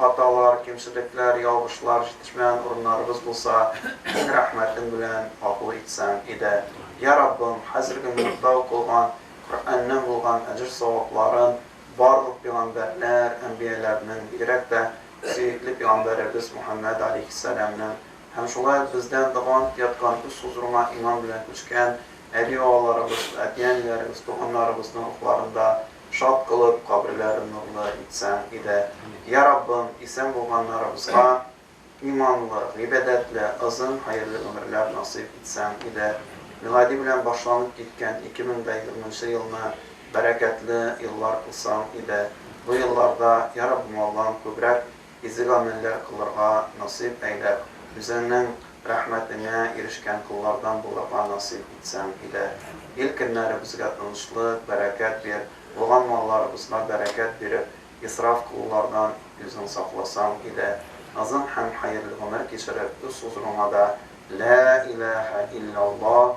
Хаталар, кимчелекләр, ялгышлар, җитешмәгән урыннарыбыз булса, син рәхмәтең белән гафу итсәң иде. Йә Раббым, хәзерге минутта укылган Коръәннән булган әҗер-савапларын барлык пигамбәрләр, әнбияләрнең, бигрәк тә сөекле пигамбәребез Мөхәммәд аләйһиссәламнең һәм шулай ук бездән дәваланып яткан үз хозурыңа иман белән күчкән әби-бабаларыбыз, әти-әниләребез, туганнарыбызның рухларында Шат кылып, каберләрен нурлы итсәң иде. Йа Раббым, исән булганнарыбызга иманлы, гыйбадәтле, озын хәерле гомерләр насыйп итсәң иде. Милади белән башланып киткән 2020 елны бәрәкәтле еллар кылсаң иде. Бу елларда, Йа Раббым Аллам, күбрәк изге гамәлләр кылырга насыйп әйлә, үзеңнең рәхмәтеңә ирешкән коллардан булырга насыйп итсәң, иләһ, ил көннәребезгә тынычлык, бәрәкәт бир, булган малларыбызга бәрәкәт биреп, исраф кылулардан үзең сакласаң, иләһ, озын һәм хәерле гомер кичереп, үз хозурыңа да, Ләә иләһә илләллаһ,